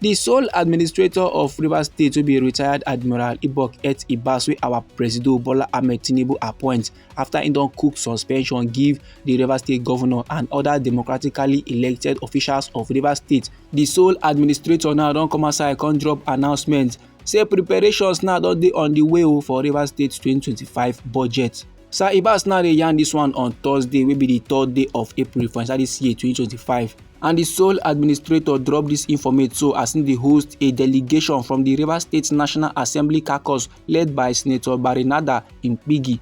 The sole administrator of Rivers State will be retired Admiral Ibok Et Ibas wey our Presido Bola Ahmed Tinubu appoint after he don cook suspension give the Rivers State governor and other democratically elected officials of Rivers State. The sole administrator now don come outside come drop announcement say preparations now don dey on the way oh for Rivers State 2025 budget. Sir Ibas now dey yarn this one on Thursday wey be the third day of April for inside this year 2025 and the sole administrator drop this informate so as im dey host a delegation from the Rivers State National Assembly caucus led by Senator Barinada Impigi.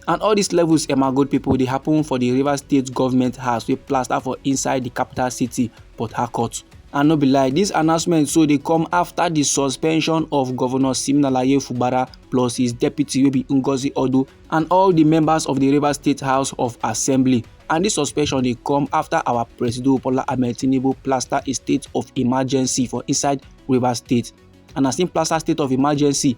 And all these levels Emma Gold people dey happen for the Rivers State Government House wey plaster for inside the capital city Port Harcourt. And no be lie, dis announcement so dey come afta di suspension of Governor Siminalayi Fubara plus his deputy wey be Ngozi Odu and all di members of di Rivers State House of Assembly. And dis suspension dey come afta our Presido Bola Ahmed Tinubu plaster a state of emergency for inside Rivers State. And as im plaster state of emergency,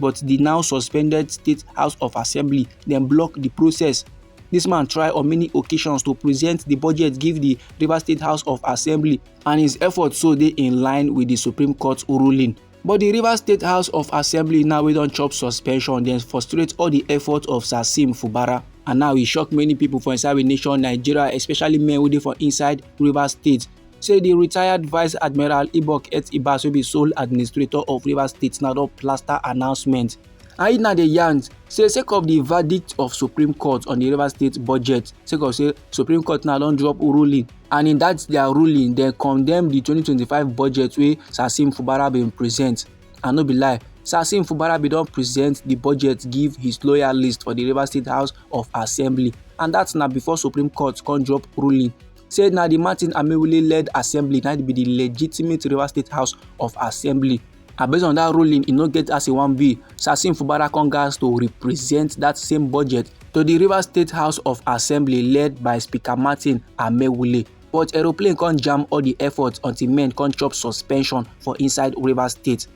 but di now suspended state house of assembly dem block di process This man tried on many occasions to present the budget give the Rivers State House of Assembly and his efforts so they in line with the Supreme Court ruling. But the Rivers State House of Assembly now we don chop suspension then frustrate all the efforts of Sasim Fubara and now e shock many people for inside the nation Nigeria especially men wey dey for inside Rivers State say di retired vice admiral ibok et ibas wey be sole administrator of rivers state na don plaster announcement and na dey yarn say sake of di verdict of supreme court on di rivers state budget sake of say supreme court now don drop ruling and in dat dia ruling dem condemn di 2025 budget wey sasim fubara bin present and no be lie Sassim Fubarabi don present the budget give his loyalist for the Rivers State House of Assembly and that's na before Supreme Court come drop ruling say na di martin amewule led assembly na be di legitimate rivers state house of assembly and based on dat ruling e no get as e wan be sasim fubara come gatz to represent dat same budget to di rivers state house of assembly led by speaker martin amewule but aeroplane come jam all di efforts until men come chop suspension for inside rivers state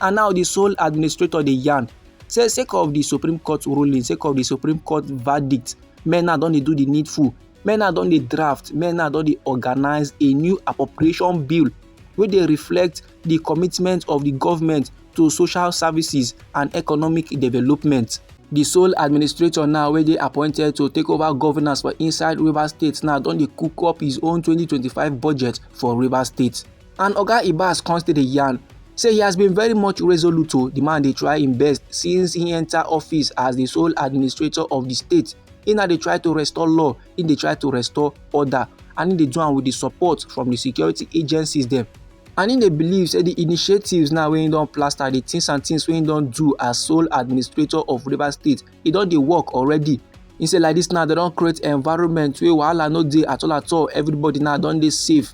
and now di sole administrator dey yarn say sake of di supreme court ruling sake of di supreme court verdict men now don dey do di needful men now don dey draft men now don dey organize a new appropriation bill wey dey reflect di commitment of di government to social services and economic development. di sole administrator now wey dey appointed to take over governance for inside rivers state now don dey cook up his own 2025 budget for rivers state. And Oga Ibas come still dey yarn say he has been very much resolute o, oh. the man dey try im best since he enter office as the sole administrator of the state. He na dey try to restore law, he dey try to restore order and he dey do am with the support from the security agencies dem. And he dey believe say the initiatives now wey he don plaster, the things and things wey he don do as sole administrator of Rivers State, e don dey work already. He say like this now, they don create environment wey wahala no dey at all at all, everybody now don dey safe.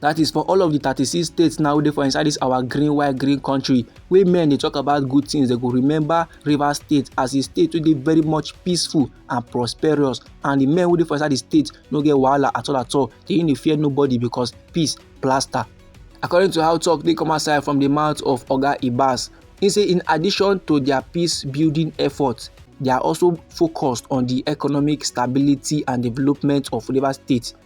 That is for all of the 36 states now dey for inside this our green white green country wey men dey talk about good things they go remember Rivers State as a state wey dey very much peaceful and prosperous and the men wey dey for inside the state no get wahala at all at all they no fear nobody because peace plaster. According to how talk dey come outside from the mouth of Oga Ibas, he say in addition to their peace building efforts, they are also focused on the economic stability and development of Rivers State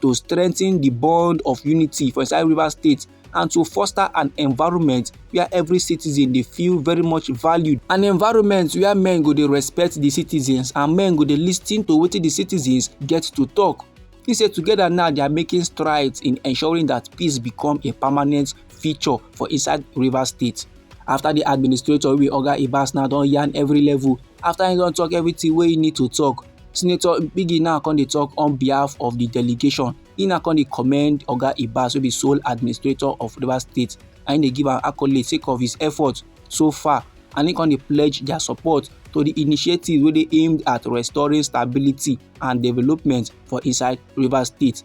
to strengthen the bond of unity for inside Rivers State and to foster an environment where every citizen dey feel very much valued an environment where men go dey respect the citizens and men go dey lis ten to wetin the citizens get to talk he say together now they are making strides in ensuring that peace become a permanent feature for inside rivers state after the administrator wey be oga ibas now don yarn every level after he don talk everything wey he need to talk senator biggie now come dey talk on behalf of the delegation he now come dey commend oga ibas wey be sole administrator of rivers state and he dey give am accolade sake of his effort so far and he come dey pledge their support to the initiative wey dey aimed at restoring stability and development for inside rivers state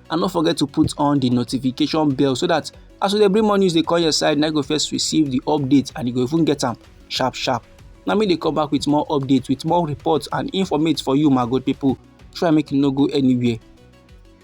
and no forget to put on the notification bell so that as we dey bring more news dey come your side na you go first receive the update and you go even get am sharp sharp na me dey come back with more updates with more reports and informate for you my good people try make you no go anywhere